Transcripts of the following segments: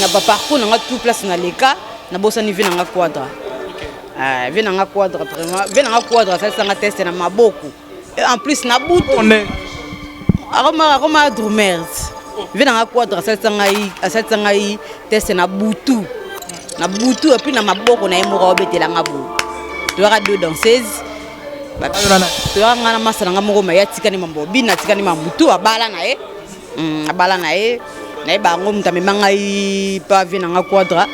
na ba parcours na nga tout place na leka na bosani vie na nga quadra ah, vie na nga quadra vraiment vie na nga quadra asalisa nga teste na maboko Et en plus na butu akoma akoma drumers vie na nga quadra asalisa ngai asalisa ngai teste na butu na butu epuis na maboko na ye moko aobetela nga boye toyaka deux danseuses toyaka nga na masa na nga moko maye atikani mambo bina atikani mamutu abala na ye Mm, abala na ye nayeba yango moto amema ngai pa vie na ngai quadra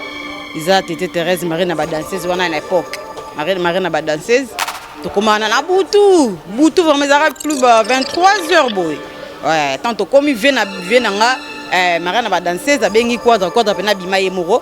eza tete therese marie na badanseuse wana na epoque marie na badanseuse tokoma wana na butu butu vraimen ezalaka plus ba 23 heures boye tant tokomi vie na vie na nga eh, marie na badanseuse abengi quadra quadra mpena abima ye moko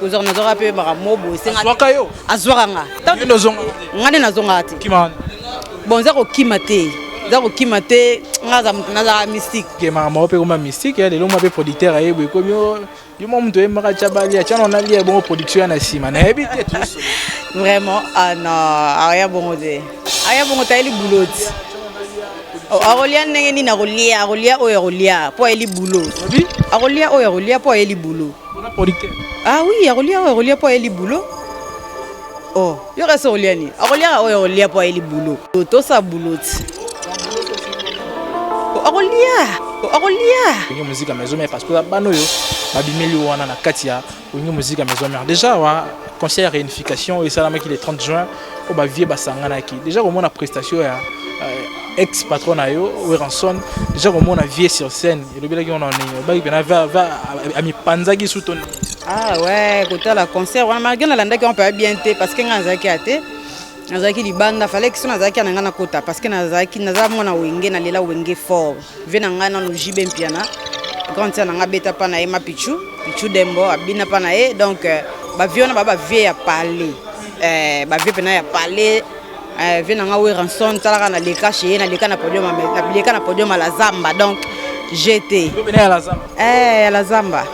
kozwaka nazwaka mpe baka mobo esengazwaka yo azwaka nga nga nde nazongaka te bon eza kokima te eza kokima te nga aza moto nazalaka mystique kemaka moko mpe koma mystique ya lelo mwa mpe producteur ayebwe ekomi yo mwa moto oyembaka tya bali atya na onalia ebongo production ya na nsima nayebi te vraiment ah non aya bongo te aya bongo tayeli buloti akolia ndenge nini akolia akolia oyo akolia mpo ayeli bulo akolia oyo akolia mpo ayeli bulo Ah oui, akolia oyo akolia mpo ayeli boulot. Oh, yo kasi okolia nini? Akolia oyo akolia mpo ayeli boulot. Tosa boulot ti. Akolia, akolia. Olingi muzika maison mère parce que bana oyo babimeli wana na kati ya olingi muzika maison mère. Déjà wa concert ya réunification esalamaki le 30 juin oyo bavie basanganaki deja komona prestation ya euh, ex patron na yo weranson deja komona vie sur scène elobelaki wana nini obaki mpena amipanzaki su to nini ah ouais kotala concert wana malgré nalandaki yango mpe bien te parce que ngai nazalaki ya te nazalaki libanda falaki so nazalaki ya na ngai nakota parce que nazalaki naza mwana wenge nalela wenge fort Vie na ngai nanu JB Mpiana grande sœur na ngai abeta mpa na ye ma Pichu Pichu Dembo abina mpa na ye donc euh, bavie wana ba bavie ya palais eh, bavie mpena ya palais eh, vie na ngai Weranson talaka na leka chez ye na leka na podium na leka na podium la zamba donc j'étais ya la zamba eh ya la zamba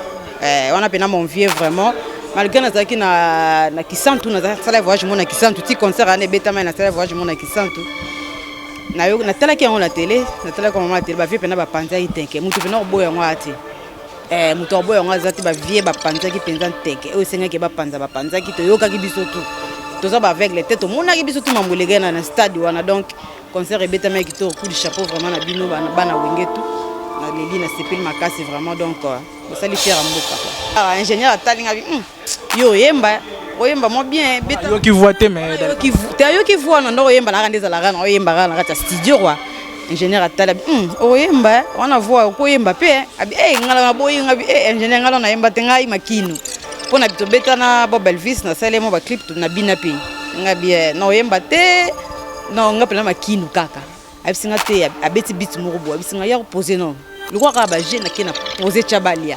eh, wana mpena mon vieux vraiment malgré nazalaki na, na kisantu nazalaki nasala voyage mona kisantu ti concert wana ebetama nasala voyage mona kisantu Na yo na tala ki yango na tele, na tala ko mama tele ba vie pena ba panza itenke. Mutu pena oboya yango ati. Eh mutu oboya yango azati ba vie ba panza ki penza nteke. Oyo senga ke ba panza ba panza ki to yoka ki biso tout. Toza ba aveugle te to mona ki biso tout mambo legena na stade wana donc concert ebetama ya kitoko coup de chapeau vraiment na bino bana wenge tout naleli nasepeli makasi vraiment donc euh, bosali fiere ya mboka ah, ingénieur atalinga hmm. Yo oyemba oyemba mwa bien beta yo ki voix te mais yo ki te yo ki voix na ndoko oyemba na kande zala kana oyemba kana kata studio quoi ingénieur atala hum oyemba wana voix okoyemba pe abi eh ngala na boyi ngabi eh ingénieur ngala na yemba te ngai makino pona bito beta na Bob Elvis na sale mo ba clip na bina pe ngabi eh na oyemba te na ngapi na makino kaka abisi nga te abeti bit moko bo abisi nga ya ko poser non lokwa kaka ba jeune akena poser chabalia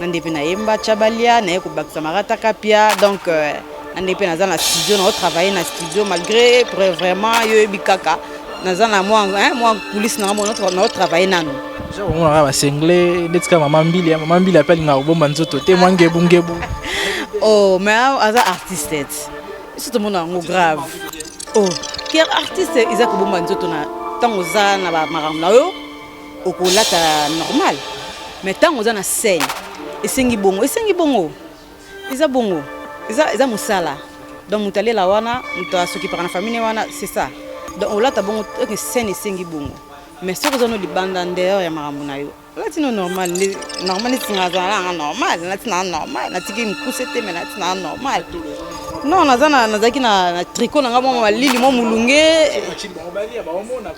na nde mpe nayemba chabalia naye kobakisa marata kapia donc euh, na nde mpe naza na studio nao travaille na studio malgré vraiment yo oyebi kaka naza na mwa mwa kulisi nanga mo nao travaille nanu omonaka basengle ndeti kaka mama mbili mama mbili ape alingaka kobomba nzoto te mwa ngebungebu o oh, ma aza artiste biso tomona yango grave o oh, artiste eza kobomba nzoto na ntango oza na bamakambo na yo okolata normal mais ntango oza na scène esengi bongo esengi bongo eza bongo eza, eza mosala donc moto alela wana moto asokipaka na famille wana c'est ça donc olata bongo oke scène esengi bongo mais soki oza no libanda ndeyeur ya makambo na yo olati no normal nde normal neti nga azala nanga normal nati naa normal natiki mokuse te me nati naa normal non naza nazalaki na tricot na ngai mwa malili mwa molunge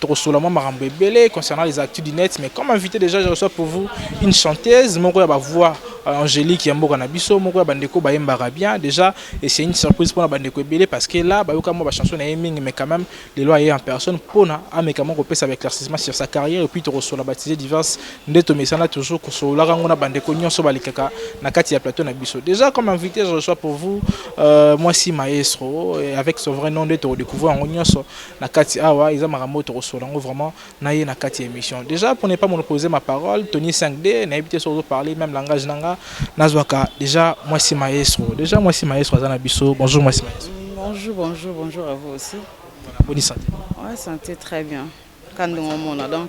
Tokosola mwa makambo ebele concernant les actus du net, mais comme invité déjà je reçois pour vous une chanteuse moko ya ba voix euh, angélique ya mboka na biso, moko ya bandeko bayembaka bien déjà, et c'est une surprise mpona bandeko ebele parce que là bayoka mwa ba chansons na ye mingi, mais quand même lelo aye en personne mpona ameka mwa kopesa ba éclaircissement sur sa carrière, et puis tokosola ba sujets diverses nde tomesana toujours kosololaka yango na bandeko nyonso balekaka na kati ya plateau na biso. Déjà comme invité je reçois pour vous euh, mwasi maestro, et avec son vrai nom nde tokodécouvrir yango nyonso, na kati awa eza makambo oyo tokosolola yango vraiment na ye na kati ya émission déjà pour ne pas monopoliser ma parole tony 5d nayebi te soki ozoparle même langage na nga nazwaka déjà mwasi maestro déjà mwasi maestro aza na biso bonjour mwasi maestro Bonjour, bonjour, bonjour à vous aussi. boni sante Ouais, santé très bien. Kandongo mona donc.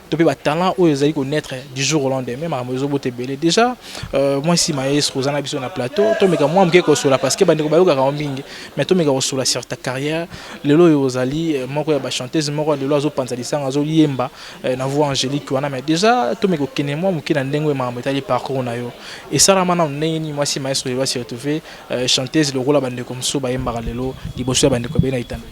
to mpe batalent oyo ezali connaître du jour au lendemain makambo ezobota ebele déjà euh, moi si maestro oza na biso na plateau tomeka mwa moke kosola parce que bandeko bayokaka yango mingi mais tomeka kosola sur ta carrière lelo oyo ozali euh, moko ya bachanteuse moko lelo azopanza lisanga azoyemba euh, na voix angélique wana mais déjà tomeka okende mwa moke na ndenge oyo makambo etali parcours na yo esalama nano ndenge nini mwasi maestro lelo asi retrouve chanteuse lokola bandeko mosusu bayembaka lelo liboso ya bandeko ebele na itando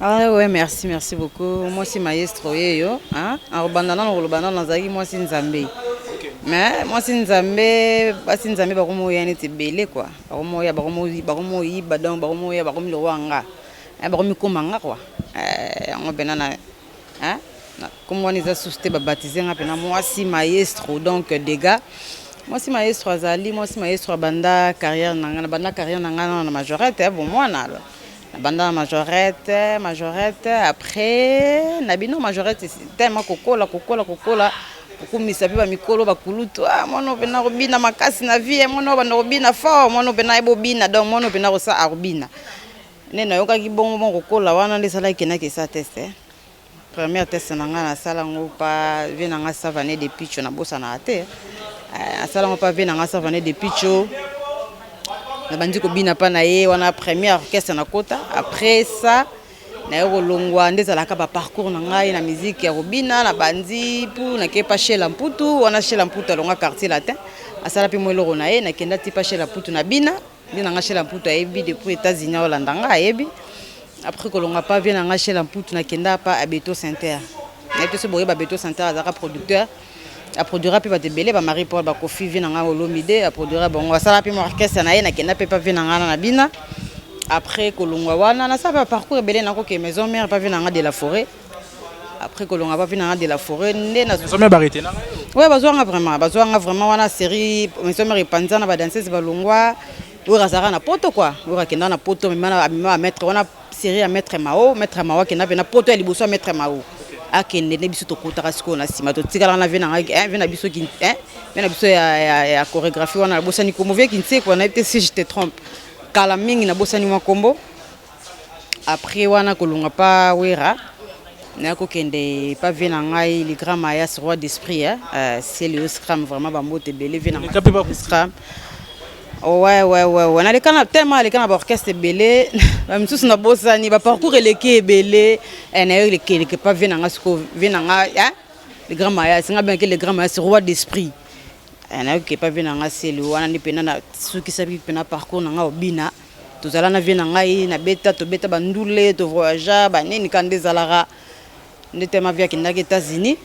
Ah ouais, merci, merci beaucoup. Moi aussi maestro yeyo, hein. Alors bandana na koloba na nazaki moi si Nzambe. Mais moi si Nzambe, basi Nzambe bakomo ya neti belé quoi. Bakomo ya bakomo bakomo yiba donc bakomo ya bakomo lo wanga. Eh bakomi koma nga quoi. Eh yango bena na hein. Comme on les a sousté ba baptiser nga pena moi si maestro donc dégâts. Moi si maestro azali, moi si maestro banda carrière na nga, banda carrière na nga na majorette, eh bon moi na alors. Na banda na majorette, majorette après na bino majorette tellement kokola kokola kokola kokumisa mpe bamikolo bakulutu ah, mwana oyo mpena akobina makasi na vie eh, mwana oyo banda kobina fort mwana oyo mpena ayebi obina donc mwana oyo mpena akosa akobina nde nayokaki bongo bongo kokola wana nde esalaki kenakesa teste eh. Première test na nga na sala ngo pa vie na nga savane de picho na bosa na te na sala ngo pa vie na nga savane de picho na bandi ko bina pa na ye wana première orchestre na kota après ça na yo kolongwa nde ezalaka ba parcours na ngai na musique ya kobina na bandi pour na kepa chez la mputu wana chez la mputu alonga quartier latin asala pe mo eloko na ye na kenda ti pa chez la mputu na bina Vie na nga Shela Mputu ayebi depuis Etats-Unis aolanda nga ayebi. Après kolonga pa vie na nga Shela Mputu na kenda pa Abeto Center. Na yebi te soki boyeba Abeto Center azalaka producteur. A produira pe bato ebele ba Marie Paul ba Kofi vie na nga Olomide a produira bango asala pe mo orchestre na ye na kenda pe pa vie na nga na bina. Après kolongwa wana nasala ba parcours ebele na ko ke maison mère pa vie na nga de la forêt. après kolonga bavi nanga de la foret nde nazoya bazwanga vraiment bazwanga vraiment wana série maison mare epanza na badanseuse balongwa oyo azalaka na poto kua oyo akenda na poto amema bamaître wana série ya maître mao maître mao akenda mpe na poto ya liboso ya maître mao akende nde biso tokutaka sikoyo na nsima totikalaka na vie na ngai eh, vie na biso vie eh, na biso ya chorégraphie wana nabosani kombo vie kinsekwa nayebi te si je te trompe kala mingi nabosani mwa kombo Après wana kolongwa pa Werra naya kokende pa vie na ngai le grand Mayas roi d'esprit eh, eh ciel yo scram vraiment ba mbote ebele vie na ngai Oleka pe ba scram Ouais, ouais, ouais, ouais. naleka na tellement aleka na baorchestre ebele na misusu nabosani baparcours eleki ebele eh, nayo elekeleke pa vie na ngai sikoyo vie na ngai eh? le grand mayas ngai bengaki le grand mayas roi d'esprit eh, nayoki epa vie na ngai seli wana nde mpena nasukisaki mpena parcours na ngai obina Tozala na vie na ngai na beta tobeta ba ndule to voyagea ba nini kanda ezalaka nde tellement vie akendaki Etats Unis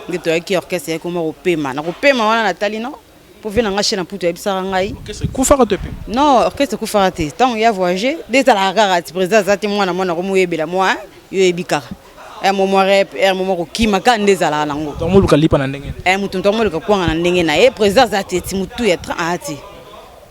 nde toyaki orchestre yaki koma kopema na kopema wana natali no po vie na ngai chez na putu ayebisaka ngai orchestre kufaka to epema non orchestre kufaka te ntango ya voyage nde ezalaka kaka ti président aza te mwana mwana komoyebela mwa yo oyebi kaka ya mwa mwa rep ya mwa mwa kokima kaka nde ezalaka nango donc moluka lipa na ndenge eh moto moto akomoluka kwanga na ndenge na ye président aza te ti motu ya train aa te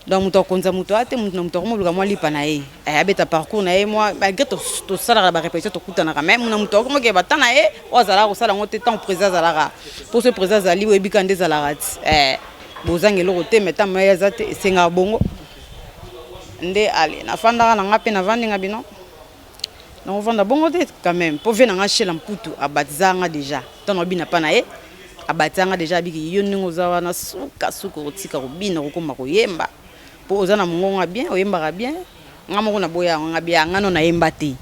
Donc moto akonza moto aya te, moto na moto akomoluka mwa lipa na ye eh, abeta parcours na ye mwa malgré tosalaka ba repetition tokutanaka mais moto na moto akomokee bata na ye oyo azalaka kosala yango te ntango président azalaka mpo so président azali oyebi kaka nde ezalaka ti eh, bozanga eloko te mais ntango maye aza te esengaka bongo nde ale nafandaka na ngai mpe navandi nga bino Nako vanda bongo te quand meme po vie na nga shela mputu a batiza nga dejà temps nao bina pa na ye a batiza nga dejà abiki yo ndenge oza wana suka suka okotika ko bina okokoma ko yemba po oza na mungongo ya bien oyembaka bien nga moko na boya yango nga bia nga no na yemba te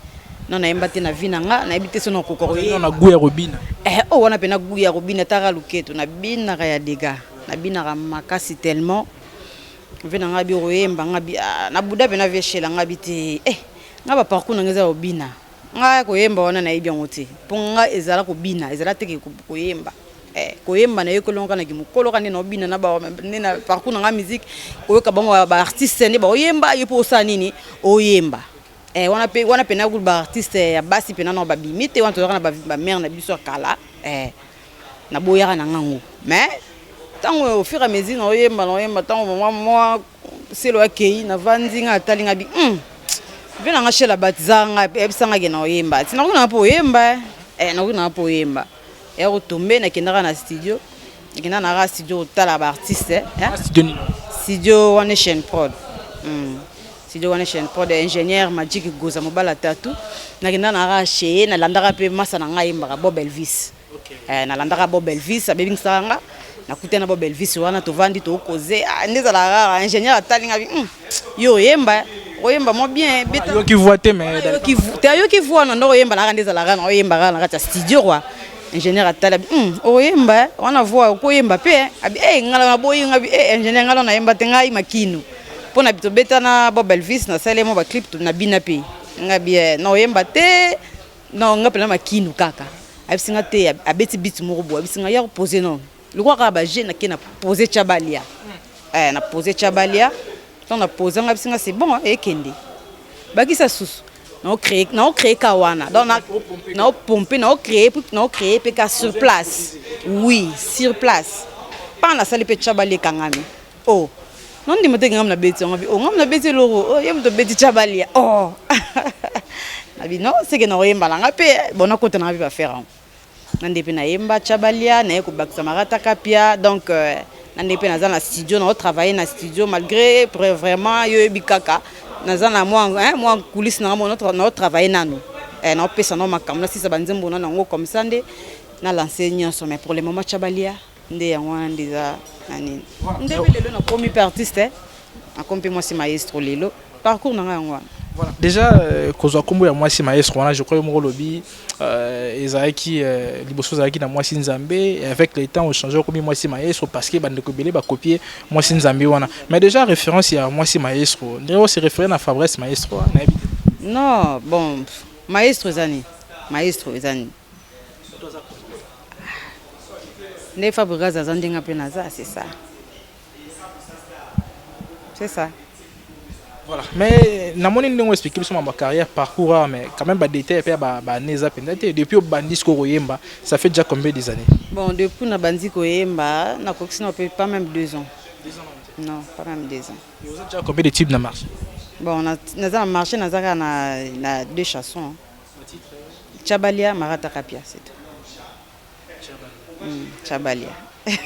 no na yemba te na vie na nga na yebi te soki nako koka ko yemba na gout ya ko bina eh oyo wana pena gout ya ko bina tala luketu na binaka ya degat na binaka makasi tellement Vie na nga biro yemba nga bi ah, na buda pena vie shela nga bi te eh nga ba parcours na nga eza obina nga ko yemba wana na yebi yango te po nga ezala ko bina ezala te ke ko yemba eh ko yemba na yekoli nga na ki mukolo ka nde na obina na ba nde na parcours na nga musique oyoka bango ba artistes nde ba oyemba yo po osala nini oyemba eh wana pe wana pena gulu ba artistes ya basi pena na ba bimi te wana tozaka na ba mère na biso kala eh na boyaka na ngango mais tango au fur et à mesure na oyemba na oyemba tango mama mwa selo akei na vandi nga atali nga bi hmm. vie na nga shela batiza nga yebisa nga ke na oyemba ti nakuna po oyemba eh nakuna po oyemba ya kotombe nakendaka na studio nakenda na ka studio kotala ba artiste eh? studio one nation prod hmm. Studio wana chaîne prod ya ingénieur Magic Goza mobali ya Tatu. Nakendaka na kaka chez ye, nalandaka mpe masa na ngai ayembaka Bob Elvis. Eh, nalandaka Bob Elvis, abebingsaka nga. Nakutani na Bob Elvis wana tovandi tokoze. Ah, nde ezalaka kaka ingénieur atali nga bi, "Hmm, yo oyemba, oyemba mwa bien, beta." Ayoki voix te mais Wana ayoki vo- te ayoki voix wana ndoko oyemba na kaka nde ezalaka na oyemba kaka na kati ya studio kwa. Ingénieur atali abi, "Hmm, oyemba, wana voix okoyemba mpe." eh." Abi, "Eh, ngala naboyi nga bi, eh, ingénieur ngala nayemba te ngai makino." mpo na tobeta na bob elvis nasala ye mwa baclip na bina mpe nga bie na oyemba te na nga mpena makinu kaka ayebisi nga te abeti bit moko boye ayebisi nga ya kopose non lokola kaka baje nake na pose tya balia eh, na pose tya balia ntango na pose nga ayebisi nga se bon ekende eh, bakisa susu naocree ka wana donc naopompe naocree mpe ka sur place oui sur place mpa nasali mpe tya balia ekangami Oh, non ndima te ngam na beti yango bi. Oh, ngam na beti loro. Oh, yem to beti chabalia. Oh. na bi non, seke na oyemba na ngape, eh, bona kota na ngape ba faire yango. Na ndepe na yemba chabalia, na ye ko bakisa marata kapia. Donc euh, na ndepe na za na studio, na o travailler na studio malgré vraiment yo yebi kaka naza na mwa hein, mwa coulisse na ngambo na o travailler nanu. Eh, na o pesa na makambo na sisa ba nzembo na nango comme ça nde na lancer nyonso mais pour le moment chabalia Nde yango wana nde eza na nini nde pe lelo nakomi pe artiste nakomi pe mwasi maestro lelo parcours na ngai yango wana Voilà. Déjà, euh, kozwa nkombo ya mwasi maestro wana je crois yo moko olobi euh, ezalaki euh, liboso ezalaki na mwasi nzambe et avec le temps ochange okomi mwasi maestro parce que bandeko ebele bakopie mwasi nzambe wana mais déjà référence ya mwasi maestro ndenge ose référé na fabrice maestro wana nayebi te non bon pff, maestro eza nini maestro eza nini Nde Fabregas aza ndenge nga pe naza c'est ça. C'est ça. Voilà. Mais na moni ndenge expliquer biso ma carrière parcours ah, mais quand même ba détails pe ba ba années za penza te depuis obandi siko koyemba ça fait déjà combien des années Bon depuis na bandi koyemba na kokisi na pe pas même 2 ans. Non, pas même 2 ans. Et vous avez déjà combien de types na marché Bon na naza na marché naza kaka na na deux chansons. Tshabalya Marata Kapia c'est tout Hum Tshabalya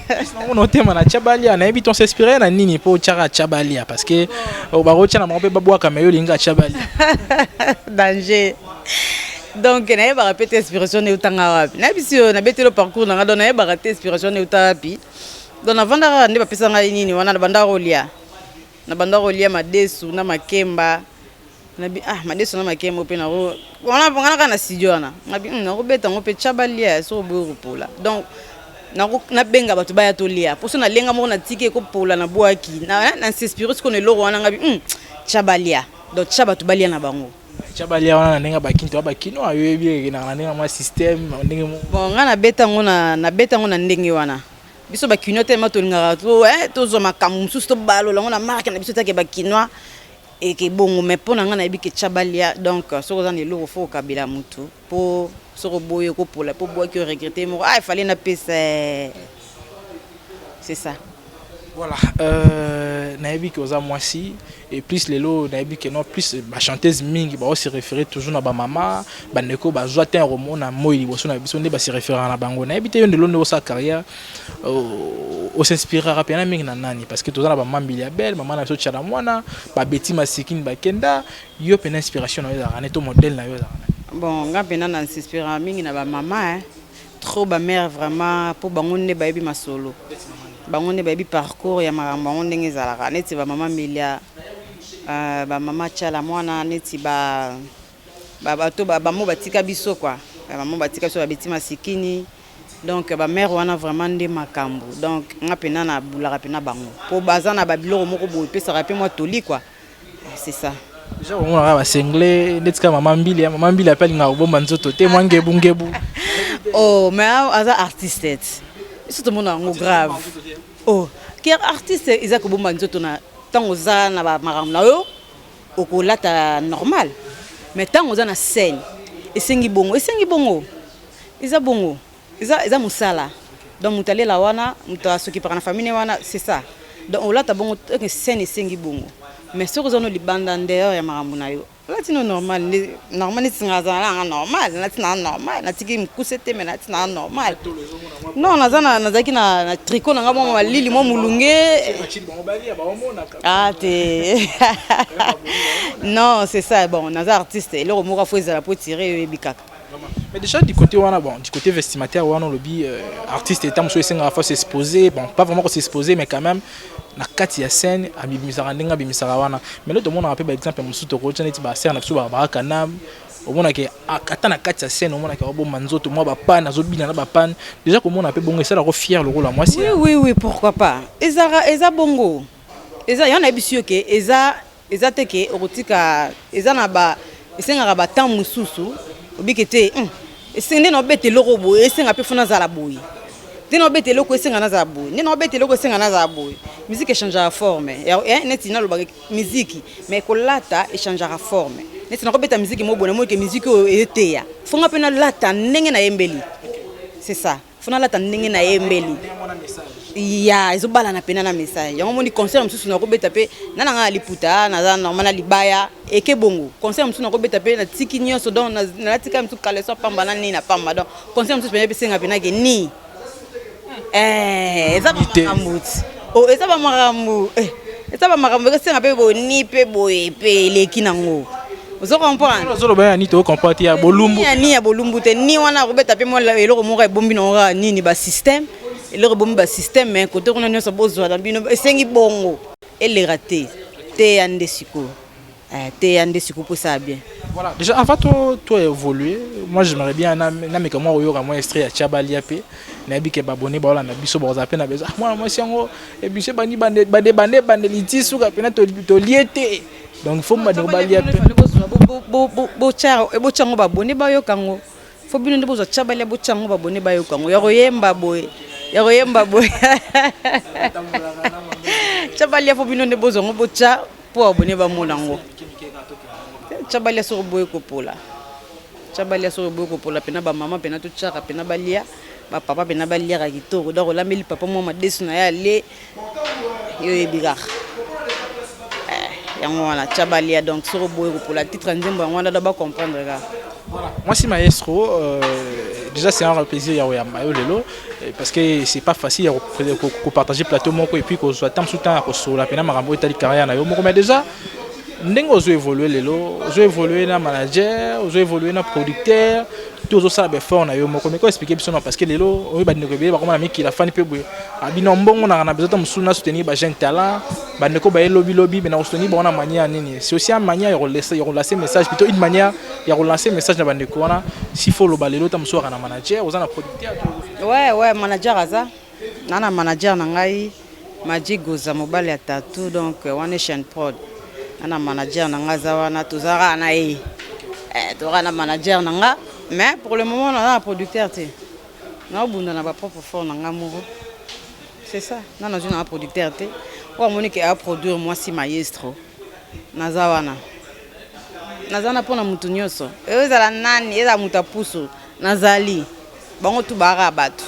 Pesa nango na otema na Tshabalya nayebi ton s'inspirer na nini po otiaka Tshabalya parce que oh, bakotia na bango pe babwaka mais yo olinga Tshabalya danger donc nayebaka pe te inspiration na eutanga wapi nayebisi yo nabeteli yo parcours na ngai donc nayebaka te inspiration na euta wapi donc navandaka kaka nde bapesa ngai nini wana nabandaka kolia Na banda kolia madesu na makemba. Na bi ah madesu na makemba pe na ko wana nga na na studio wana. Na bi hmm, na ko beta ngo pe chaba lia so boyo ko pola. Donc nabenga bato baya tolia mposo nalenga moko natiki ekopola na bwaki na eh, inspire sikoyo na eloko wana ngabi hmm, tya balia donc tya bato balia na bango tya balia wana na ndenge bakinto ya bakino ayoyebi ekenaka na ndenge mwa systeme ndenge bon ngai nabeta yango na ndenge wana biso ba kinois tellement tolingaka to eh tozwa makambo mosusu tobalola yango na marke na biso take ba kinois eke bongo mais mpo na ngai nayebi ke chabalia donc soki oza na eloko fo okabela motu mpo soki oboyi okopola mpo obwaki oregrete moko ah efale napesa eh. c'est ça voilà euh, nayebi ke oza mwasi Et plus lelo nayebi que non plus ba chanteuses mingi ba se référer toujours na ba mama ba ndeko ba zwa temps komona moi liboso na biso nde ba se référer na bango nayebi te yo ndelo nde sa carrière euh, o s'inspirera pena mingi na nani parce que toza na ba mambi ya belle mama na biso chala mwana ba beti masikin ba kenda yo pena inspiration na yo ezalaka ne to modèle na yo ezalaka bon nga pena na s'inspirera mingi na ba mama hein Trop ba mère vraiment po bango nde bayebi masolo bango nde bayebi parcours ya makambo yango ndenge ezalaka neti ba mama milia euh, ba mama chala mwana neti ba ba bato ba bamo batika biso kwa bamo batika biso babeti masikini donc ba mère wana vraiment nde makambo donc nga pena na bulaka pena bango po baza na ba biloko moko boye pesaka pe mwa toli kwa c'est ça Déjà on a ba single ndeti ka maman Mbili, maman Mbili appelle nga obomba nzoto te mwa ngebu ngebu. Oh mais aza artiste. Biso tomona yango grave. Oh ker artiste eza kobomba nzoto na ntango oza na ba makambo na yo okolata normal mais ntango oza na scène esengi bongo esengi bongo eza bongo Eza eza musala donc mutu alela wana mutu asokipaka na famille ne wana c'est ça donc olata bongo que scène esengi bongo mais soki oza no libanda en dehors ya makambo na yo olati no normal nde normal neti nga azala nanga normal nalati na normal natiki mukuse te mais nalati na normal non naza na nazalaki na na tricot nanga mwa malili mwa mulunge ah te non c'est ça bon naza artiste eloko moko afo ezala po tire yo eyebi kaka Mais déjà du côté wana bon du côté vestimentaire wana olobi euh, artiste etat mosusu esengaka fa s'exposer bon pas vraiment ko s'exposer mais quand même na kati ya scène abimisaka ndenge abimisaka wana mais lelo tomonaka mpe baexemple mosusu tokotya neti basere na biso babaka kanam omonake ata na kati ya scène omonake abomba nzoto mwa bapane azobina na bapane déjà komona mpe bongo esalako fier lokola mwasi oui oui oui pourquoi pas ezaka eza bongo eza yango nayebisi yo ke eza Eza te ke okotika eza na ba esengaka ba temps mususu obike te hum, esenga nde na obeta eloko boye esenga pe fona zala boye nde na obeta eloko esenga nazala boye nde na obeta eloko esenga nazala boye musique echangeaka forme eh, neti nalobaka miziki mais kolata echangeaka forme neti nakobeta miziki mobona moi ke miziki oyo eteya fonga pe nalata ndenge nayembeli c'est ça fona alata ndenge na ye mbeli ya ezobalana pena na message yango moni concert mosusu nakobeta mpe na nanga na liputa naza normal na libaya eke bongo concert mosusu nakobeta mpe natiki nyonso donc nalatika mosusu kaleso pamba na nini na pamba donc concert mosusu pena epesenga pena ke nii eh, eza makambo ti Oh, eza ba makambo eh, eza ba makambo ekosenga mpe boni mpe boye mpe eleki nango ozo comprendre ozoloba ya nini to comprendre te ya bolumbu ya nini ya bolumbu te ni wana akobeta mpe mwa eloko moko ebombi nango kaka nini ba système eloko ebombi ba système me kote kuna nyonso bozwa na bino esengi bongo eleka te teya nde sikoyo Eh, teya nde sikoyo mpo esala bien voilà déjà avant to to évoluer moi j'aimerais bien na na meka mwa koyoka mwa extrait ya chabalia mpe nayebi ke babone baolanda biso bakozala mpe na besoin ah, mwana mwasi yango ebisi eh, ebandi bande bande bande bande liti suka mpena tolie te donc il faut bandeko balia mpe botya yango babone bayoka yango fo bino nde bozwa chabalia botya yango babone bayoka yango ya koyemba boye ya koyemba boye chabalia fo bino nde bozwa yango botya Po abonne ba mona ngo. Chabalia soko boye kopola. Chabalia soko boye kopola pena ba mama pena to chaka pena balia ba papa pena balia ka kitoko. Donc olambeli papa mwa madesu na ya le yo ebikaka. Eh, yango wana chabalia donc soko boye kopola titre nzembo yango wana da ba comprendre ka. Mwasi maestro euh, déjà c'est un plaisir ya oyamba yo lelo Eh, parce que c'est pas facile ya kopartage plateau moko epuis kozwa ntango mosusu ntango ya kosolola mpena makambo oyo etali carrière na yo moko mais déjà ndenge ozo évolue lelo ozo évolue na manager ozo évolue na producteur to ozosala baeffort na yo moko meko explike biso na parce que lelo oyo bandeko ebele bakoma na mikili afani mpe boye abino ah, mbongo nanga na bezota mosusu na soutenir ba jeune talent bandeko baye lobilobi me na kosoutenir bango na manière nini c'est aussi une manière ya kolancer message plutôt une manière ya kolancer message na bandeko wana s'il faut oloba lelo ta mosusu aka na manager oza na Ouais, ouais, manager aza. Nana manager na ngai Magic Goza mobali ya tatou donc euh, One Nation Prod. Nana manager na ngai aza wana tozalaka na ye. Eh, tozalaka na manager na ngai mais pour le moment naza na producteur te. Naobunda na ba propre fort na ngai moko. C'est ça. Nana zwi na ngai producteur te. Oyo amoni ke a produire mwasi maestro. Naza wana. Naza wana mpo na moto nyonso. Ezala nani, ezala moto ya pusu. Nazali. Bango tout baaka ya batu.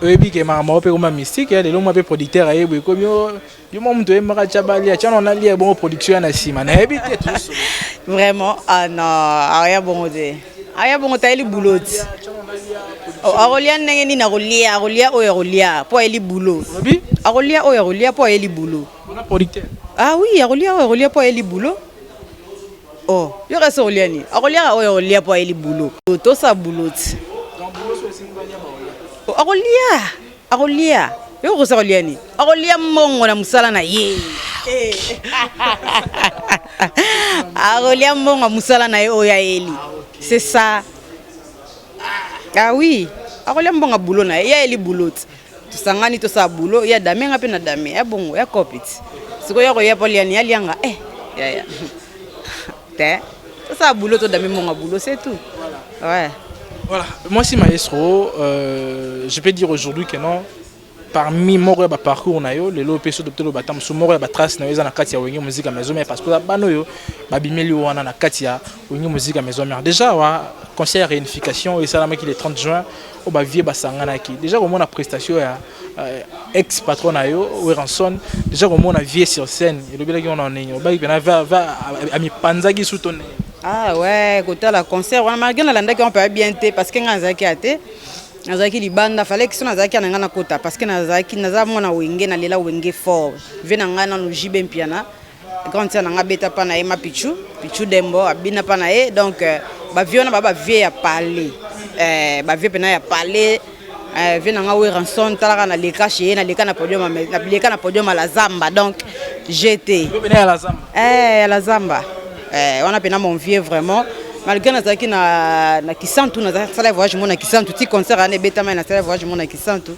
Oyebi ke makambo yango mpe ekoma mystique ya lelo mwa mpe producteur aye boye ekomi yo mwa moto oyembaka tya balia tya naona lia ebongo production ya na nsima nayebi te vraiment ah non aoya bongo te aoya bongo tayeli bulo ti akolia ndenge nini akolia akolia oyo akolia mpo ayeli bulo akolia oyo akolia mpo ayeli bulo ah oui akolia oyo akolia mpo ayeli bulo Oh, yo kasi okolia nini? Akoliaka oyo akolia mpo ayeli bulo. Tosa bulo ti. Oh, akolia, akolia. Yo okosi akolia nini? Akolia mbongo na mosala na ye. Eh. akolia mbongo ya mosala na ye oyo ayeli. C'est ça. Ah oui, akolia mbongo ya bulo na ye. Ye ayeli bulo ti. tosangani tosala boulot ya dame nga mpe na dame ya bongo ya copit sikoyo yakoya mpo aliani alianga eh yaya te tosala boulot to dame monga boulot c'est tout ouais voilà moi si maestro euh, je peux dire aujourd'hui que non parmi moko ya baparcours na yo lelo mpe soki totelo bata mosusu moko ya batrace na yo eza na kati ya wenge muzika maison mare parce que oza bana oyo babimeli yo wana na kati ya wenge muzika maison mare déjà wa concert ya réunification esalamaki le 30 juin oyo ba vieux basanganaki deja komona prestation ya euh, ex patron na yo Weranson deja komona vieux sur scène elobelaki wana ndenge obaki pena va va amipanzaki su to ndenge ah ouais kotala concert wana malgré nalandaki wana mpe bien te parce que ngai nazalaki ya te nazalaki libanda falaki so nazalaki na ngai nakota parce que nazalaki naza mwana wenge nalela wenge fort vie na ngai nano jibe mpiana grande sœur na nga beta pa na ye ma pichu pichu dembo abina pa na ye donc euh, ba vieux na ba ba vieux ya palais euh ba vieux pena ya palais euh vieux na nga Weranson talaka na leka chez ye na leka na podium na leka na podium la zamba donc j'étais pena ya la zamba eh ya la zamba eh wana pena mon vieux vraiment malgré nazalaki na na kisantu nazalaki sala voyage mona kisantu ti concert ane betama na sala voyage mona kisantu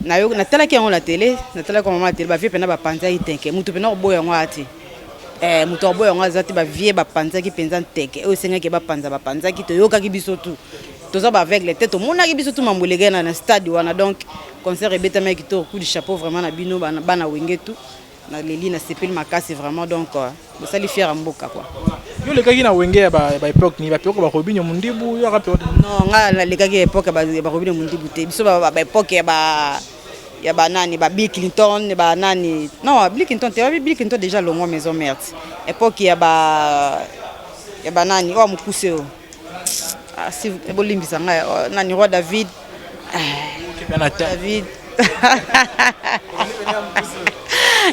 Na yo na tala ki yango na tele, na tala ko mama tele ba vieux pena ba panza iteke. Mutu pena oboya yango ati. Eh mutu oboya yango azati ba vieux ba panza ki penza nteke. Oyo senga ke ba panza ba panza ki to yoka ki biso tout. Toza ba aveugle te to mona ki biso tout mambo lege na na stade wana donc concert ebeta meki to coup du chapeau vraiment na bino bana bana wenge tout. Na leli na sepeli makasi vraiment donc euh, bosali fier ya mboka quoi. Yo lekaki na wenge ya ba ba epoque ni ba peko ba Robinho Mundibu yo aka peko. Non nga na lekaki epoque ba ba Robinho Mundibu te. Biso ba ba epoque ya ba ya ba nani ba Bill Clinton ba nani. Non Bill Clinton te wapi Bill Clinton déjà longo maison mère. Epoque ya ba ya ba nani oyo mukuse oyo. Ah, si bolimbisa ngai oh, nani roi David. David.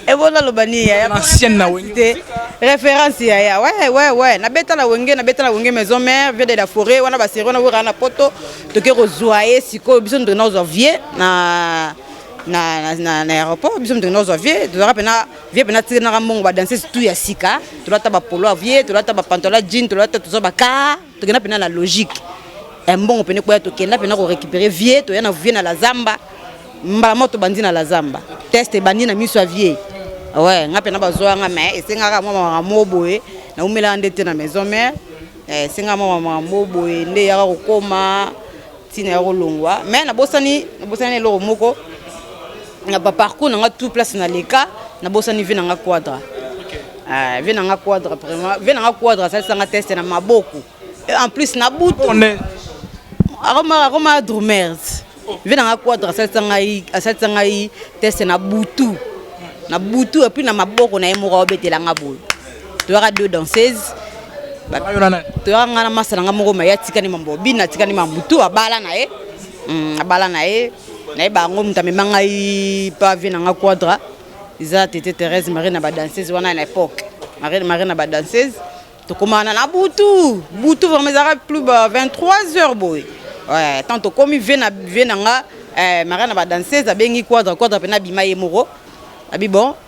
ebona loba nini yaya ancienne na wenge te référence yaya ouais ouais ouais na beta na wenge na beta na wenge maison mère vie de la forêt wana ba série wana wera na poto toke ko zwa ye sikoyo biso ndona ozwa vie na na na na aéroport biso ndona ozwa vie tozaka pena vie pena tikenaka mbongo badanseuse tout ya sika tolata bapolo ya vie tolata bapantola jean tolata toza baka tokenda pena na logique ya mbongo pene koya tokenda pena korécupere vie toya na vie na la zamba mbala moko tobandi na la zamba test ebandi na miso ya vie ouais nga pena bazwa nga mais esengaka mwa mamaka mo boye naumelaka nde te na maison mère eh, esengaka mwa mamaka mo boye nde eyaka kokoma Tina ya kolongwa mais nabosani nabosani eloko moko na ba parcours na nga tout place na leka nabosani vie na nga quadra ah, vie na nga quadra vraiment vie na nga quadra asalisa nga teste na maboko en plus na butu akoma akoma drumers vie na nga quadra asalisa ngai asalisa ngai teste na butu na butu epuis na maboko na ye moko aobetela nga boye toyaka deux danseuses toyaka ngai na masa na ngai moko maye atikani mambo bini atikani mambutu abala na ye hmm, abala na ye nayeba yango moto amema ngai pa vie na ngai quadra eza tete thérèse marie na badanseuse wana na époque marie na badanseuse tokoma wana na butu butu vraiment ezalaka plus ba 23 heures boye tant tokomi vie na vie na ngai eh, marie na badanseuse abengi quadra quadra mpe nabima ye moko abi bon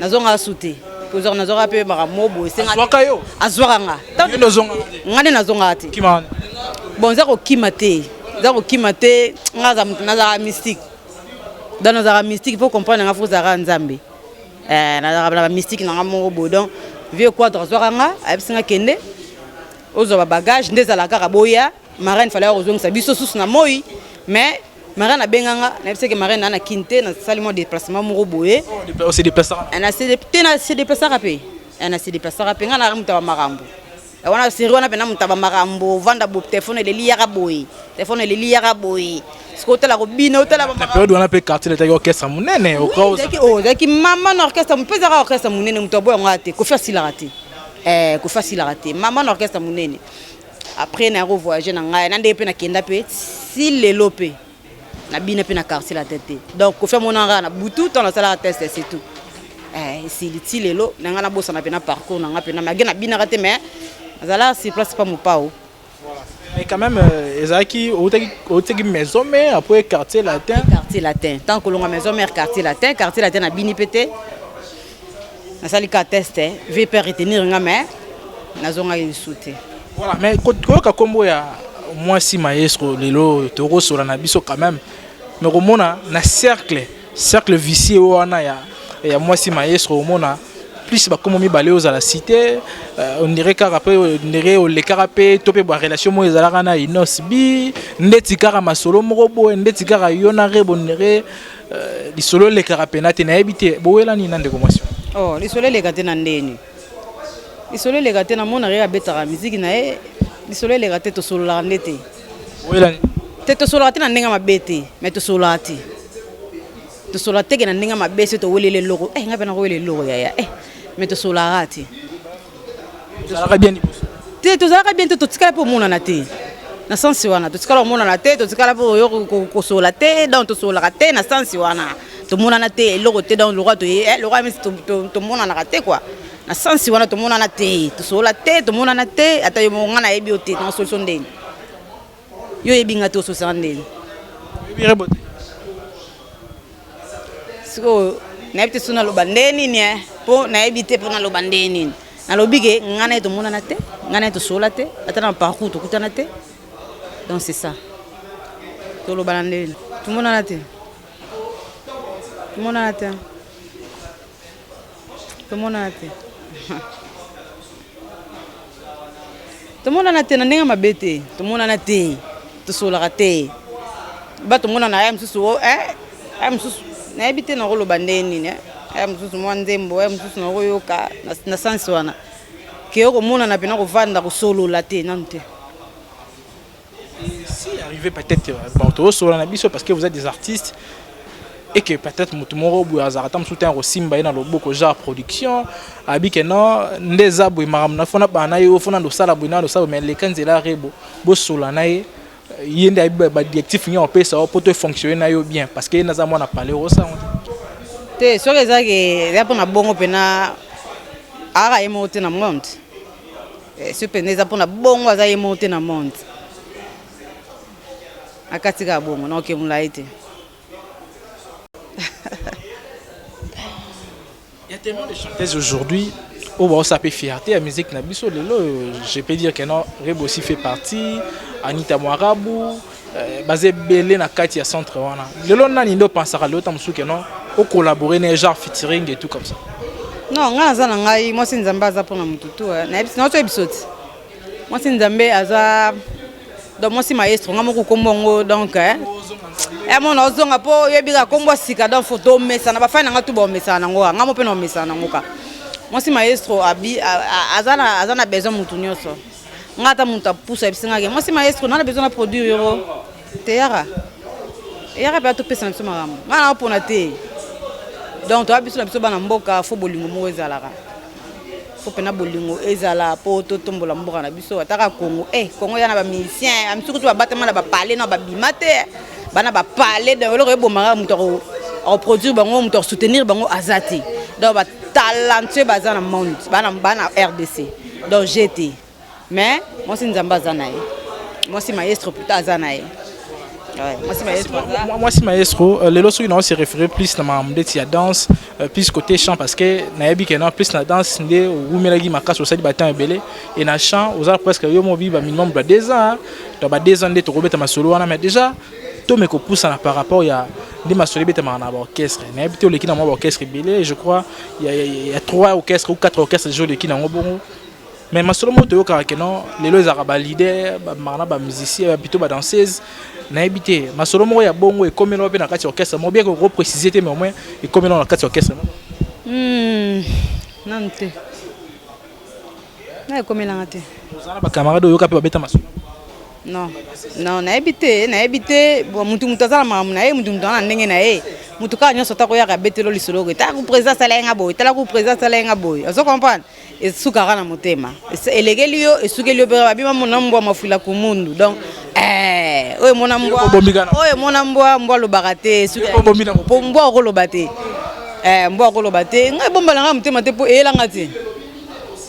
nazongaka su te kozwaka nazwaka mpe makambo boye azwaka yo azwaka nga nga nde nazongaka te bon eza kokima te eza kokima te nga nazalaka mystique donc nazalaka mystique mpo comprendre nga fo ozalaka nzambe eh, nazalaka na bamystique nanga moko boye donc vieux quadre azwaka nga ayebisi nga kende ozwa babagage nde ezalaka kaka boya Marraine fallait akozongisa biso susu na moi mais marraine abenga nga nayebisa ke marraine ana kin te nasali mwa déplacement moko boye oh, te se déplacaka mpe na se déplacaka mpe nga naka moto ya bamakambo wana série wana mpena moto ya bamakambo ovanda bo telefone eleli yaka boye telefone eleli yaka boye sikoy otala kobina otalaperiode wana mpe quartier etaki orchestre monene ozalaki mama na orchestre mpe ezaka orchestre monene moto aboya ngo ya te kofi asilaka te eh, kofi asilaka te mama na orchestre monene Après na ko voyager na ngai na ndenge pe na kenda pe si lelo pe na bina pe na quartier la tête donc kofi amona nga na butu tant na sala test c'est tout eh si liti lelo na nga na bosa na pe na parcours na nga pe na magi na bina ka te mais azala si place pa mopao Mais quand même, euh, Ezaki, Otegi maison mère, après quartier latin. Quartier latin. Tant que l'on a maison mère, quartier latin, quartier latin a bini pété. nasali ka test eh. vie pe retenir nga mais nazongaki lisusu te voilà mais koyoka nkombo ya mwasi maestro lelo tokosola na biso quand même mais komona na cercle cercle vicier wana ya, ya mwasi maestro omona plus bakomo mibale ozala cité euh, ondire kaka mpe ondire olekaka mpe to mpe barelation moko ezalaka na inos bi ndeti kaka masolo moko boye ndeti kaka yo na rebo ondire Euh, lisolo elekaka mpena te nayebi te bowela nini na ndeko mwasi oh, lisolo eleka te na ndeni lisolo eleka te namonaka ye abetaka miziki na ye lisolo eleka te tosololaka nde te te tosololaka te na ndenge mabe te mai tosololaka te tosolola teke na ndenge mabe se toweleli eloko eh, ngai mpe nakowela eloko yaya eh, mai tosololaka te Tozalaka bien liboso. Te tozalaka bien te totikala mpe omonana te. Na sensi wana totikala omonana te totikala mpe oyo kosola te donc tosololaka te na sensi wana tomonana te eloko te donc lokola toye eh, lokola misi tomonanaka te kua na sensi wana tomonana te tosolola te tomonana te ata yo moko ngai nayebi yo te na solution ndeni Yo oyebi nga te ososanga ndeni. Oyebi rebo te. Sikoyo nayebi te soki naloba nde nini eh? mpo nayebi te mpo naloba nde nini nalobi ke ngai na ye tomonana te ngai na ye tosolola te ata na parcour tokutana te donc c'est ça tolobana nde nini tomonana te tomonana te tomonana te tomonana te na ndenge mabe te tomonana te tosolaka te ba tomonana aya mosusu o eh, aya mosusu nayebi te nakoloba ndenge nini eh. aya mosusu mwa nzembo aya mosusu nakoyoka na sansi wana keyo komonana mpena kovanda kosolola te nanu te si arrive peut-être euh, bon tozosola na biso parce que vous êtes des artistes et que peut-être moto moko boye azalaka ata mosusu te akosimba ye na loboko genre production abi ke non nde eza boye makambo na fona bana ye ofona nde osala boye nano osala boye mais leka nzela rebo bosola na ye euh, ye nde ayebi badirectif nini akopesa yo mpo to efonctionne na yo bien parce que ye naza mwana pale osango te soki eza ke ya mpo na bongo mpena aka ye moko te na monde Eh, soki mpenza eza mpona bongo aza ye moko te na monde akati kaka bongo na oke molai te Il y a tellement de chanteuses aujourd'hui où on s'est fait fierté à musique na biso lelo je peux dire que non Rebo aussi fait partie Anita Mwarabu Eh, baza ebele na kati ya centre wana lelo nani nde opansaka lelo ta mosusu keno ocollabore na genre featuring et tout comme ça non ngai naza na ngai mwasi nzambe aza mpo na motu tu eh. naotoyebisa oti mwasi nzambe aza donc mwasi maestro ngai moko kombo yango donc eh. emona ozonga mpo oyebi kaka kombo sika donc fo tomesana bafani na ngai tu baomesana nango ka ngai mo mpe naomesana nango ka mwasi maestro aza na besoin motu nyonso nga ata moto apusa yebisi nga ke mwasi maestro nana besoin na produire yoko teyaka eyaka mpe atopesa na biso makambo nga na opona te donc toya biso na biso bana mboka fo bolingo moko ezalaka fo mpena bolingo ezala mpo totombola mboka na biso ataka congo e eh, congo ya na bamusicien amisuku to babatama na bapale na babima te bana bapale donc eloko ebomaka moto akoproduire bango moto akosoutenir bango aza te donc batalentueux baza na monde bana rdc donc je te mais mwasi nzambe aza na ye mwasi maestro pluta aza na ye mwasi maestro euh, lelo soki nao se référé plus na makambo ndeti ya danse euh, plus côté chant parce que nayebi kena plus na danse nde owumelaki makasi osali batemp ebele e na chant oza presque yo mobi ba minimum ba deux ans to ba deux ans nde tokobeta masolo wana mais déjà to me kopusana par rapport ya nde masolo ebetamaka na baorchestre nayebi te oleki na mwa baorchestre ebele je crois ya, ya, ya trois orchestre ou quatre orchestre deja oleki nango bongo mais masolo moko toyokaka ke non lelo ezalaka baleader bamaka na bamusicien bapito badanseuse nayebi te masolo moko ya bongo ekomela mpe na kati ya orchestre moko bien koprécise te mais au moins ekomela na kati ya orchestre moko hmm, nanu te Na ekomela nga te. Oza na ba camarades oyoka pe babeta masolo? Non, non, nayebi te, nayebi te, bon mutu mutu aza na makambo na ye, mutu mutu aza na ndenge na ye. Mutu kaka nyonso ata koyaka abeteli yo lisolo ke tala ku president asala ye nga boye, tala ku president asala ye nga boye. Ozo comprendre? Esukaka na motema. Elekeli yo, esukeli yo pe kaka. Babima mona mbwa mafwila kumundu. Donc, eh oyo emona mbwa, oyo emona mbwa, mbwa alobaka te. Po mbwa oko loba te. Eh mbwa oko loba te. Nga ebomba na nga motema te po eyela nga te.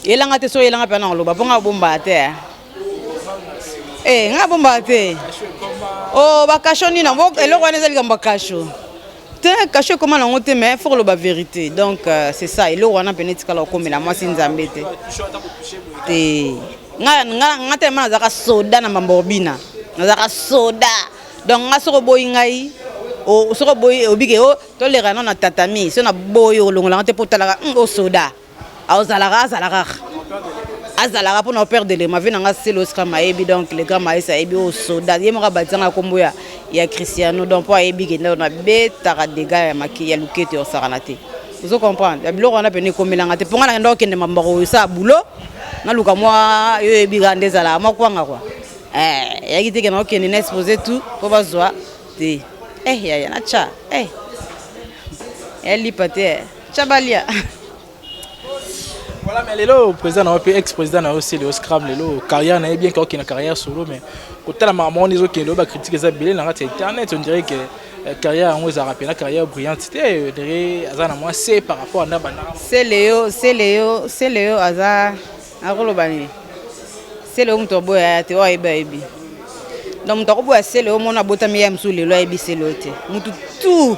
Elanga te so elanga pe na loba po nga bomba te. Eh, eh nga bomba te. Oh ba kasho ni na bok eloko wana ezali kamba kasho. Te kasho koma na ngote mais faut loba vérité. Donc euh, c'est ça eloko wana pe netika la komela moi si nzambe te. Te. Nga nga nga te mana zaka soda na mamborbina. Nazaka soda. Donc nga soko boyi ngai soko boyi obike o tolerana na tatami so na boyi olongolanga te po talaka o soda. azalaka azalaka azalaka mpona opere de lema vie nanga selo scram ayebi donc le grand maes ayebi oyo soda ye moko abadisanga nkombo ya ya cristiano donc mpo ayebi kenda na betaka dega ya maki ya loketo ya osakana te ozo comprendre ya biloko wana pene ekomelanga te mpo nga nakenda okende mamba koyosala boulot naluka mwa yo oyebi kaka nde ezalaka mwa kwanga kua eh, yaki te kenda okende na expose tout mpo bazwa te eh yaya natya eh yalipa te eh. Chabalia. Voilà, mais lelo président na pe ex président na aussi le scram lelo carrière na bien que na carrière solo mais kotala maman les autres qui le ba critique ça belé na kati internet on dirait que euh, carrière yango eza rappelé na carrière brillante te euh, dere aza na moi c'est par rapport à na bana c'est Léo c'est Léo c'est Léo aza akoloba nini c'est Léo moto boya te oyebi ayebi donc moto akoboya c'est Léo mona botami ya mosusu lelo ayebi c'est Léo te moto tout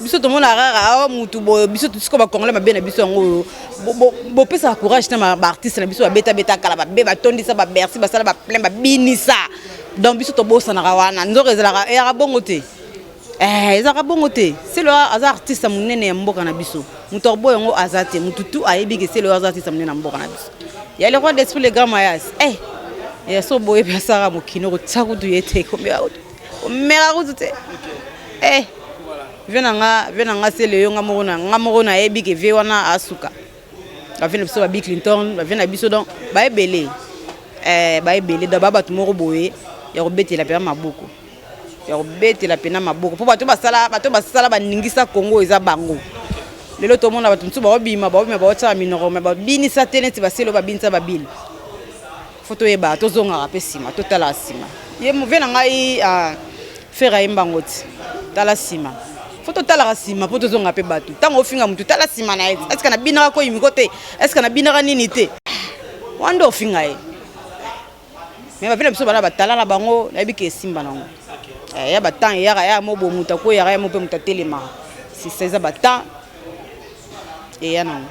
biso tomona rara awa mutu boyo biso siko bacongolais mabe na biso yango oyo bopesaka courage na baartiste na biso babetabeta kala babe batondisa babersi basala baplein babinisa donc biso tobosanaka wana nzoka ezalaka eyaka bongo te eh, ezalaka bongo te selo aza artiste monene ya mboka na biso moto akobo yango aza te motu tu ayebi ke selo aza artiste monene ya mboka na biso ya le roi d'esprit le grand mayas eh, ya so boyebi asaka mokino kotia kutu ye te komia kutu mera kutu te eh vie na nga vie na nga se leyo nga moko na nga moko nayebi ke vie wana asuka bavie na biso babi clinton bavie na biso donc baebele eh, baebele donc ba bato moko boye ya kobetela mpenza maboko ya kobetela mpenza maboko mpo bato basala bato basala baningisa kongo eza bango lelo tomona bato mosusu baobima baobima baotyaka minoko me babinisa te neti baselo babinisa babini Faut toyeba tozongaka mpe nsima totalaka nsima ye move na ngai ah, fere ayemba ngo ti tala nsima fo totalaka nsima mpo tozonga mpe bato ntango ofinga motu tala nsima na ye eske nabinaka koyimiko te eske nabinaka nini te wana nde ofinga ye me bape na biso bana batala na bango nayebi ke esimba nango eh, ya batemp eyaka ya mo bomutu akweyaka ya mo mpe moto atelemaka sisa eza batemp eya nango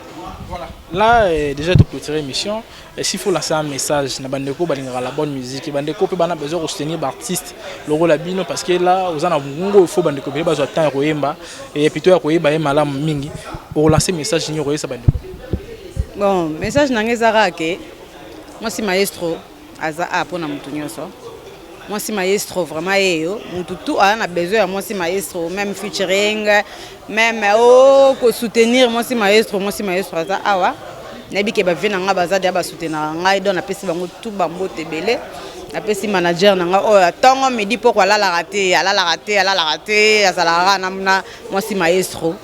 Voilà. Là, euh, déjà, tu clôturer l'émission. Et s'il faut lancer un message, na bandeko balingaka la bonne musique. Et bandeko pe bana besoin de soutenir l'artiste, logo la bino, parce que là, aux ana mungo, il faut bandeko bele bazo temps ya koyemba. Et plutôt ya koyemba ye malamu mingi. Pour lancer message ni koyesa bandeko. bon message na ngai eza kaka ke mwasi maestro aza a pona mutu nyoso mwasi maestro vraiment yeyo mutu tu aza na besoin ya mwasi maestro meme featuring meme o oh, kosoutenir mwasi maestro mwasi maestro aza awa nayebi ke bavie na ngai baza deya basoutenaka ngai don napesi bango tu bambote ebele napesi manager na ngai oyo oh, ntongo midi mpoko alalaka te alalaka te alalaka te azalaka kaka na mwasi maestro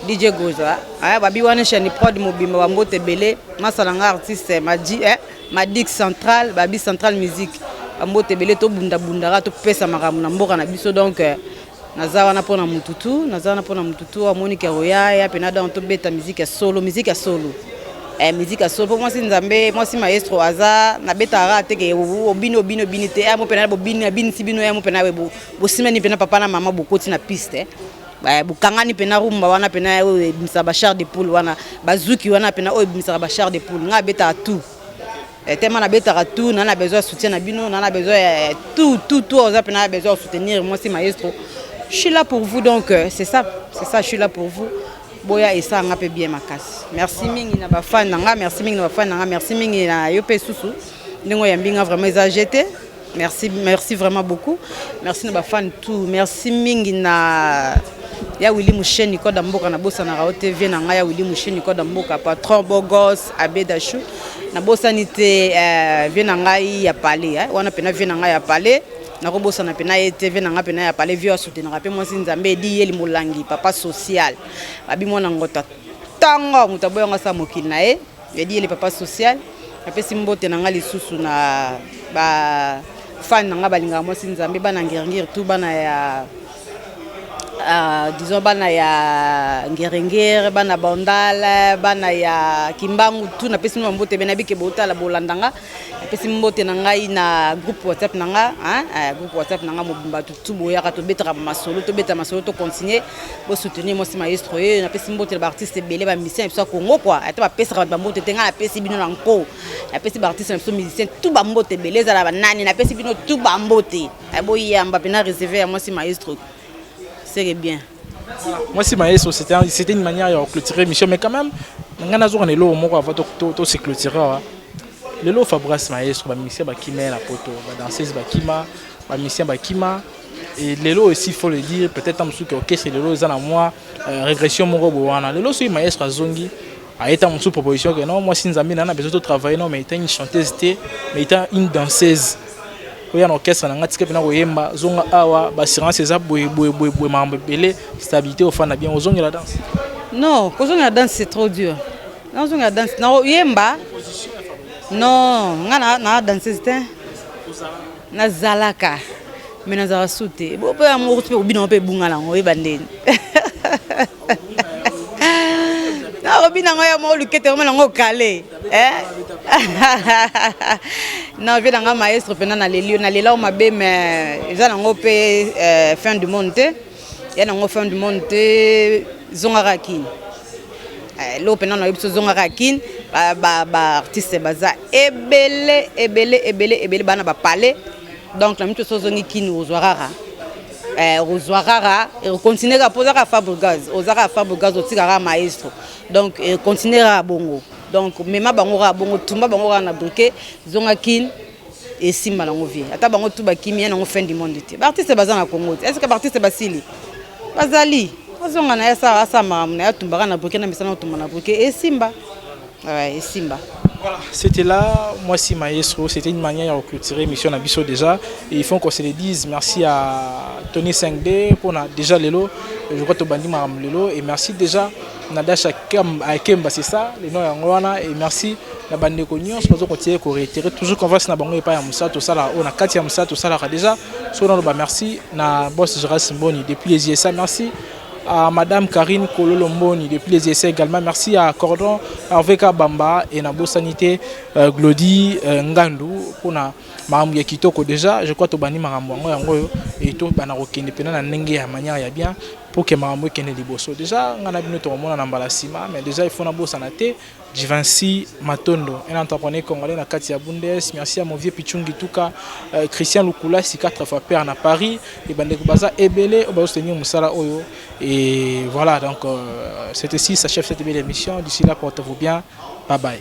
dj goza ah, babi wana chaine prod mobimba bambote ebele masala ngai artiste maji eh. Madik Central, Babi Central Musique, bambote ebele tobundabundaka topesa makambo na mboka na biso donc euh, naza wana mpo na motu tu naza wana mpo na motu tu amonike akoya ya mpena donc tobeta miziki ya solo miziki ya solo eh, miziki ya solo mpo mwasi nzambe mwasi maestro aza nabetaka te ke obini obini obini te ya eh, mo mpena bobini abinisi bino ya eh, mo mpena bosimani mpena papa na mama bokoti na piste eh. Eh, bokangani pena rumba wana pena oyo oh, ebimisaka ba char de poule wana bazuki wana pena oyo oh, ebimisaka ba char de poule ngai abetaka tout eh, tellement nabetaka tout naa na besoin ya soutien na bino naa na besoin ya eh, tout tout tout oza pena besoin ya soutenir mwasi maestro je suis là pour vous donc euh, c'est ça c'est ça je suis là pour vous boya esala nga mpe bien makasi merci mingi na bafani na nga merci mingi na bafani na nga merci mingi na yo mpe susu ndenge oyambi nga vraiment eza jete Merci, merci vraiment beaucoup. Merci na ba fan tout. Merci mingi na ya Willy Moucheni Koda Mboka na bosa na Rao TV na nga ya Willy Moucheni Koda Mboka patron Bogos Abedachou na bosa ni te euh, vie na ngai ya palais eh. wana pena vie na ngai ya palais nakobosana mpe na ye te ve nanga mpe na ya pale vio asutenaka mpe mwasi nzambe edi yeli molangi papa social babi mwana ngota ntango moto aboyanga sa mokili na ye Eddy le papa social napesi mbote na nga lisusu na ba fan na nga balingaka mwasi nzambe bana ngerngir tout bana ya uh, disons bana ya ngerengere bana bandal bana ya kimbangu tout napesi mino bambote bena bike botala bolandanga napesi mbote na ngai na groupe whatsapp na nga eh, groupe whatsapp na nga mobimba tutu boyaka tobetaka masolo tobeta masolo tocontinue bosoutenir mwasi maestro ye eh, napesi mbote na baartiste ebele bamusicien na biso ya congo kua ata bapesaka bato bambote te ngai napesi bino na nko napesi baartiste na biso musicien tu bambote ebele ezala banani napesi bino tu bambote eh, boyamba mpena reserve ya mwasi maestro seke bien Mwasi Maestro, c'était une manière ya clôturer émission, mais quand même, ngai nazoka na eloko moko avant to se clôturer awa. Lelo Fabras Maestro, ba musiciens bakima na poto, ba danseuses bakima, ba musiciens bakima. Et lelo aussi, il faut le dire, peut-être en dessous que orchestre lelo eza na mwa euh, régression moko bowana. Lelo soki Maestro azongi, aye ntango mosusu proposition ke non mwasi nzambe na na besoin to travailler non mais etant une chanteuse te mais etant une danseuse oya na orchestre na ngai tika mpena koyemba zonga awa baassurance eza boye boye boye boye makambo ebele stabilité ofanda bien ozongela danse non kozongela danse c'est trop dur nazongela danse nakoyemba non ngai na danseuse te Nazalaka mais nazalaka su te bo mpe yango okuti mpe kobina yango mpe ebunga na yango oyeba ndeni nakobina yango ya mwa olukete yango nango okale eh? na vie na ngai maestro mpenza na lelio na lela o mabe mais eza nango mpe eh, fin du monde te ya nango fin du monde te zonga kaka kin eh, loo mpena nayebi biso zonga kaka kin baartiste ba, ba baza ebele ebele ebele ebele bana bapale donc na mito so ozongi kin ozwa kaka eh, ozwa kaka continue kaka mpo oza kaka fabrigaz oza kaka fabrigaz otika kaka maestro donc continue kaka bongo donc mema bango kaka bongo tumba bango kaka na briquet zonga kin esimba nango vie ata bango tout bakimi ya nango fin du monde te baartiste baza na congo te eske baartiste basili bazali azonga na ye asala makambo na ye atumbaka na bruke na misana otumba na bruke esimba esimba Voilà, c'était là, moi si maestro, c'était une manière de clôturer l'émission Nabiso déjà. Et il faut qu'on se le dise, merci à Tony 5D pour déjà Lelo, je crois que tu bandit Lelo, et merci déjà Nadasha Akemba, c'est ça, le nom Yangoana, et merci na bande ko nyonso bazo continuer ko réitérer toujours confiance na bango epa ya musa to sala on a kati ya musa to sala déjà so na ba merci na boss Gérard Simboni depuis les USA merci à Madame Karine Kololo Mboni depuis les essais également. Merci à Cordon, RVK Bamba et Nabo Sanité, euh, Glody euh, Ngandou pour makambo ya kitoko deja je crois tobandi makambo yango yango oyo et tobanda kokende mpena na ndenge ya manière ya bien pour que makambo ekende liboso deja ngai na bino tokomona na mbala nsima mais deja ifo nabosana te Jivansi Matondo un entrepreneur congolais na kati ya Bundes merci ya movie Pichungi Tuka euh, Christian Lukulasi quatre fois père na Paris et bandeko baza ebele oyo soutenir mosala oyo et voilà donc euh, c'est ici ça chef cette belle émission d'ici là portez-vous bien bye bye